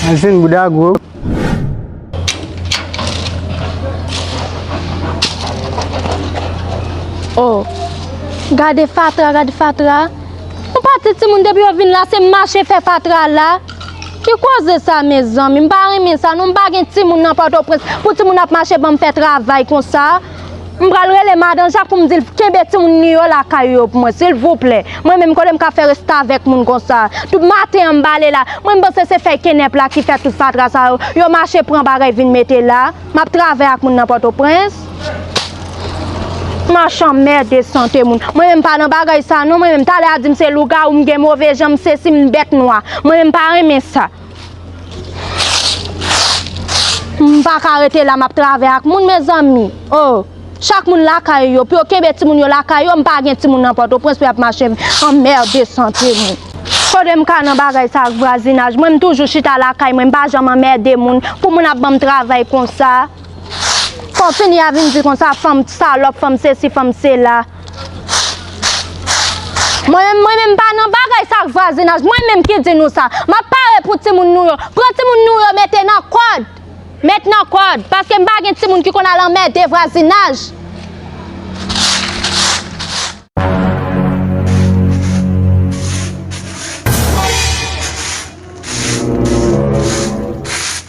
Masin bouda gwo. Oh, gade fatra, gade fatra. Mwen pa ti timoun depi yo vin la se mache fè fatra la. Ki koze sa me zanmi, m pa renmen sa non, m pa gen timoun nan Pòtoprens pou timoun ap mache banm fè travay konsa. M pral rele madan jak pou m di l kenbe timoun li yo lakay yo pou mwen silvouplè. Mwen menm kote m ka fè restavèk moun konsa. Tout maten an m bale la. Mwen m panse se fèy kenèp la ki fè tout fatra sa yo. Yo mache pran bagay vin mete la. M ap travay ak moun nan Pòtoprens. M ach anmède sante moun. Mwen menm m pa nan bagay sa non mwen menm. Talè a di m se lougawou m gen move jan m sesi m bèt nwa. Mwen menm m pa renmen sa. M pa ka rete la m ap travay ak moun mezanmi oh Chak moun lakay yo pou yo kenbe timoun yo lakay yo m pa gen timoun nan pòtoprens pou y ap mache anmède sante moun Kote m ka nan bagay sa ak vwazinaj mwen m toujou chita lakay mwen m pa janm anmède moun pou moun ap ban m travay konsa Fò fini a vin di konsa fanm salòp fanm sesi fanm sela. Mwen menm, mwen menm pa nan bagay sa ak vwazinaj, mwen menm ki di nou sa. M ap pare pou timoun nou yo. Pran timoun nou yo mete nan kòd. Met nan kòd. Paske m pa gen timoun ki konn al anmède vwazinaj.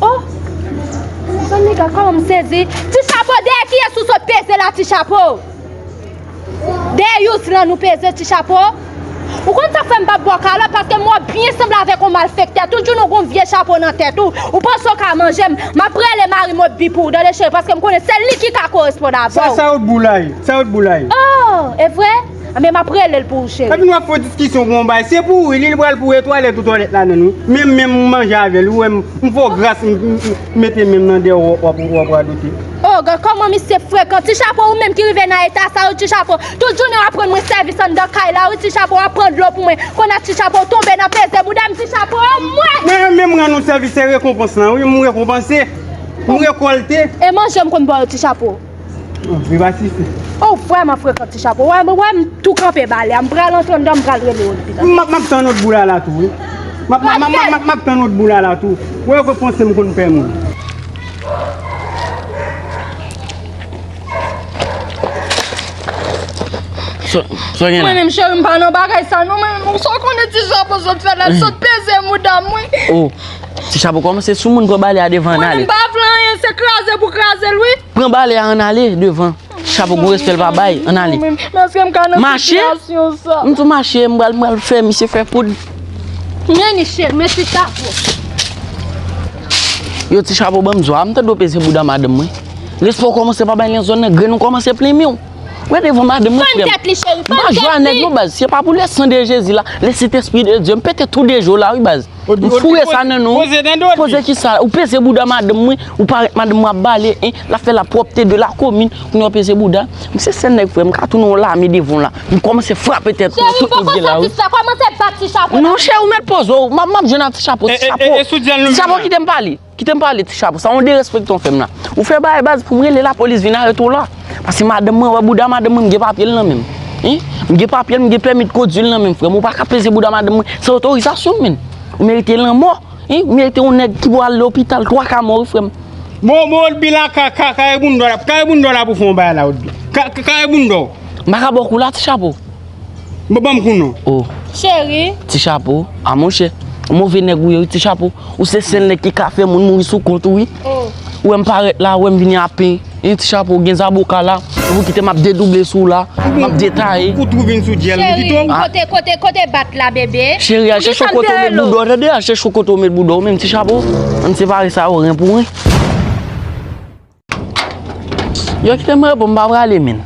Oh! Bon nèga kòman m sezi. Ti chapo dèyè kiyès ou sot peze la ti chapo? Dèyè Youslan nou peze ti chapo? Ou konn sa k fè m pa bò kalòt paske m wè w byen sanble avèk yon malfektè toujou nou gon vye chapo nan tèt ou ou panse w ka manje m m ap rele mari m Otbi pou w tande cheri paske m konnen se li ki ka koresponn avè w. Sa sa yo t boulay? Sa yo t boulay? Oh! Evre? Anben map relel pou ou cheri. Epi nou ap fon diskisyon bon bagay se pou wi li li pral pou etwalèt ou twalèt la menm wi menm menm ou manje avèl ou wèm m fè w gras m mete menm nan dèyè w wap radote. Oh gad kòman misye frekan ti chapo ou menm ki rive nan eta sa wi ti chapo tout jounen wap rann mwen sèvis anndan kay la wi ti chapo wap pran dlo pou mwen konn a ti chapo tonbe nan peze bouda m ti chapo anmwey. Mwen renmen m rann ou sèvis se rekonpans lan wi m rekonpanse m rekolte. E manje m konn ba w ti chapo. Viva tifi. Ou vreman frekan ti chapo. Wè mwen wè m tou kanpe ba lè. M pral antre andan m pral rele yo depi tantôt. Map map tann ot boula la tou wi. Map map map map map tann ot boula la tou. Wè yo konn panse m konn pè moun. Sa gen la? Mwen menm cheri m pa nan bagay sa non mwen menm. Ou sa w konnen ti chapo sot fè la l sot peze mouda m wi. Ou. Ti chapo komanse sou moun pran bale a devan an ale. Mwen m pa vle anyen se kraze pou kraze l wi. Pran bale a an ale devan. Ti chapo gon respè l pa bay an ale. Mache? M tou mache m pral fè misye fè poud. Men misye men ti chapo. Yo ti chapo banm zo a m ta dwe peze bouda madanm mwen. Respè w komanse pa bay nan zòn nan grenn ou komanse plenmen w. Wè devan madanm mwen frè m. Fann tèt li cheri fann tèt li. Majwa nèg nou baz se pa pou lè san de jezi la lè sentespri de Dye m pete tou de je w la wi baz. Nou foure sa nan nou. Poze nan dodi. Poze ki sa? Ou peze bouda madanm mwen, ou parèt madanm mwen ap bale, hein, l ap fè la pwòpte de la komin, kounye a w peze bouda? M se sèl nèg frè m, m ka tounen yon lame devan w la. M kòmanse frape tèt nou, tout moun gen la ri. Cheri m poko satisfè, kòmanse bat ti chapo nan men m. Non cheri ou mèt poze w, m ap jwenn ak ti chapo, ti chapo. E, e, e, e, e, sou dyèl nou vin la. Ti chapo kite m pale. Kite m pale ti chapo sa yon derespektan w fè m la. Ou fè bagay baz pou m rele lapolis vin arete w la. Pase madanm mwen wè bouda madanm mwen m gen papye l nan men m. M gen papye l m gen pèmi de kondwi l nan men m frè m. Ou pa ka peze bouda madanm mwen san otorizasyon m menn. Ou merite lanmò. Ou merite yon nèg ki pou al lopital twa ka mò wi frè m. Bon bon Odby la kaka kare boundo la pou fè yon bagay la Odby. Kare boundo w. M pa ka ba w kou la ti chapo. Bon banm kou non. Oh Cheri. Ti chapo. Ah monchè. Ou move nèg ou ye wi ti chapo. Ou se sèl nèg ki ka fè moun mouri sou kont ou wi. Ou wèm parèt la, ou wèm vini a pen. Hein ti chapo ou gen zaboka la. Epi ou kite map dedouble sou ou la. Map detaye. Ou tou vin sou djèl ou pito. Cheri kote kote bat la bebe. Cheri a chèchou kote ou met boudaw tande a chèchou kote ou met boudaw menm ti chapo. Ann separe sa yo ren pou ren. Yo kite m repo m pa prale menn.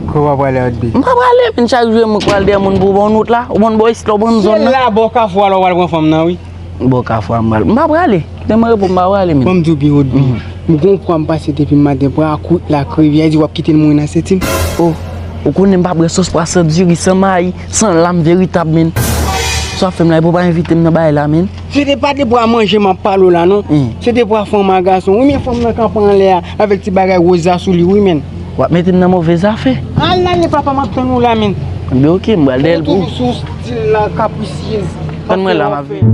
Kò pa prale ak bi. M pa prale menn chak jou e mwen k pral dèyè moun pou ban w wout la. Ou ban bò isit la ou ban zòn nan. Se la bò kafou a la ou pral pran fanm nan wi. Bò kafou a m pral. M pa prale. Kite m repo m pa prale menn. Ban m di w byen wout bi. M gon pwa m pase depi maten pwa ak wout la ak rivyè a di w ap kite l mouri nan senti m. O! Ou konnen m pa pran sòs pwa san diri san mayi san lam veritab menn. Sa w ap fè m la epi w pa envite m nan bagay la menn. Se te pa depwa manje map pale w la non, se depwa fanm a gason wi men fanm nan kanpe anlè a avèk ti bagay woz la sou li wi menn. Wap mete m nan move zafe. Al lale papa map tann ou la menn. Ebyen ok m bal dèyèl pou ou. Ou toujou sou stil la capricieuse. Tann mwen la map vini.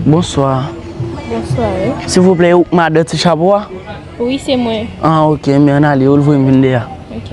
Bonswa. Bonswa wi. Silvouplè ou k madan ti chapo a? Wi se mwen. An ok men an ale yo l voye m vin deyò. Ok.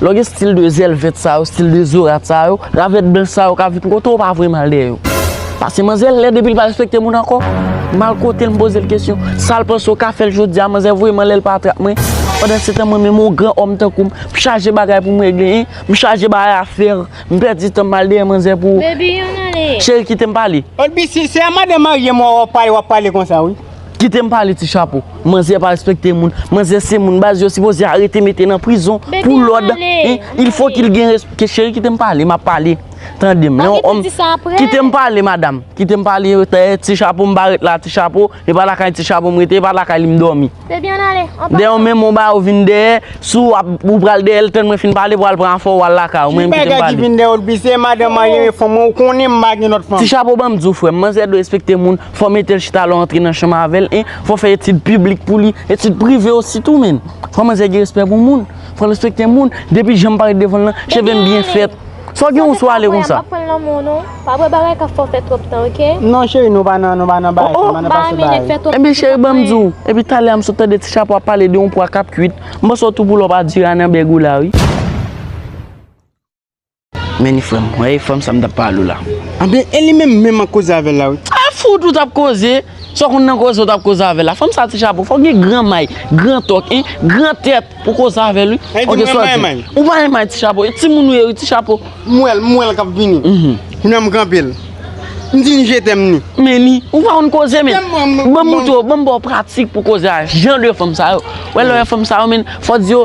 Lè w gen stil de zèl vèt sa yo, stil de zo rat sa yo, ravèt blanch sa yo ka vin kote w pa vre mal dèyè yo. Pase manzè lè depi l pa respekte moun ankò. Mal kote l m poze l kesyon. Sa l panse w ka fè l jodi a manzè voye m anlè l pa atrap mwen. Pandansetan mwen menm yon gran òm tankou m, m chaje bagay pou m regle hein. M chaje bay afè. M pèdi tan m mal dèyè manzè pou. Cheri kite m pale. Olbisi se a madan marye m wè w ap pale w ap pale konsa wi. Kitem pale ti chapo. Manzè pa respekte moun. Manzè se moun baz yo sipoze arete mete nan prizon pou lòd. Il fo kil gen respekte. Cheri kitem pale map pale. Tandem. Kitem pale madam. Kitem pale ti chapo m pa ret la ti chapo. E pa lakay ti chapo m rete e pa lakay li m domi. Dè yon men moun ba ou vin dè. Sou ou pral dè el ten mwen fin pale pou al pran fò ou al lakay ou. Ti bagay ki vin dè ou l pise madam a yon fò mwen ou konen m bagen lòt fò. Ti chapo banm di ou frem. Manzè dwe respekte moun. Fò mete l chita lè w antre nan chanm avè l e fò fè etid piblik pou li, etid prive osi tou menn. Fò manzè gen respè pou moun, fò l respekte moun, depi jan m parèt devan l lan, cheve m byen fèt. Sa w gen w sou ale konsa. Bebe anmweyy m pap pran l nan men w non. Pa bwè bagay k ap fè w fè twòp tan ok. Non cheri nou pa nan nou pa nan baay sa, nan pase baay. Ebyen cheri ban m di w, epi talè a m sot tande ti chapo ap pale de yon pwa k ap kuit, m panse w tou poulòp a dura nan bèg ou la wi. Men ni frèm, wè e fanm sa m tap pale w la. Anben e li menm, menm map koze avèl la wi. A fout ou tap koze, sa w konn nan koze ou tap koze avèl la. Fanm sa ti chapo, fòk gen gran may, gran tòk hein, gran tèt pou w koze avèl wi. Sa vle di mwen pa yon may? Ou pa yon may ti chapo, e timoun ou ye wi ti chapo. M wè l, m wè l kap vini. Kounye a m kanpe l. M di ni je tèm ni. Men ni, ou pa konn koze men. Banm moutre w, banm ba w pratik pou w koze a jan de fanm sa yo. Wè lè w wè fanm sa yo men, fò di yo.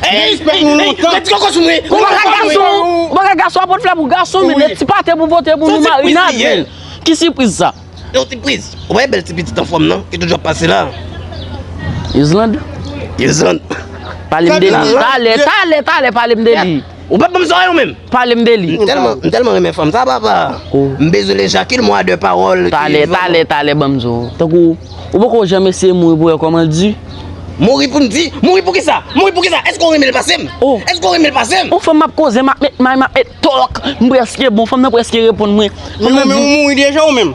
Hey Mèt koko sou mwen Ou bagay gason Ou bagay gason a pot flè pou gason Mèt ti pate pou pote pou nou Marina gen Ki sipriz sa Yon ti priz Ou wè bèl ti pitit anfòm nan Ki toujou ap pase la Yozlande Yozlande Pale m de li Talè talè talè pale m de li Ou pap banm zòrèy ou menm. Pale m de li. M tèlman renmen fanm sa papa. M bezwen le Jacquil mwa de pawòl ki. Talè talè talè banm zo. Tankou ou poko janm eseye mouri pou wè kòman l di. Mouri pou m di? Mouri pou kisa? Mouri pou kisa? Èske ou renmen l pase m? Èske ou renmen l pase m? On fanm map koze map met may map met tòk m prèske bon fanm nan prèske reponn mwen. Men ou mouri deja ou menm?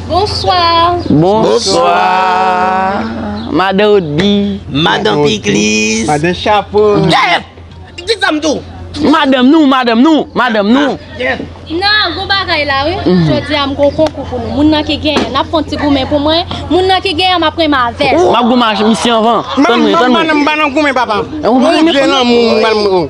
Bonswa! Bonswa! Madan Odby! Madan Pikliz! Madan Chapo! Dèyè! Di zam tou! Madanm nou! Madanm nou! Madanm nou! Nan, gwo bagay la wi! Jodi a m gen yon konkou pou nou. Moun nan ki genyen, n ap fè yon ti goumen pou mwen. Moun nan ki genyen, m ap renmen avè l. M ap goumen ak misye anvan. Tann mwen, tann mwen. M ban nou goumen papa! M vle lanmou!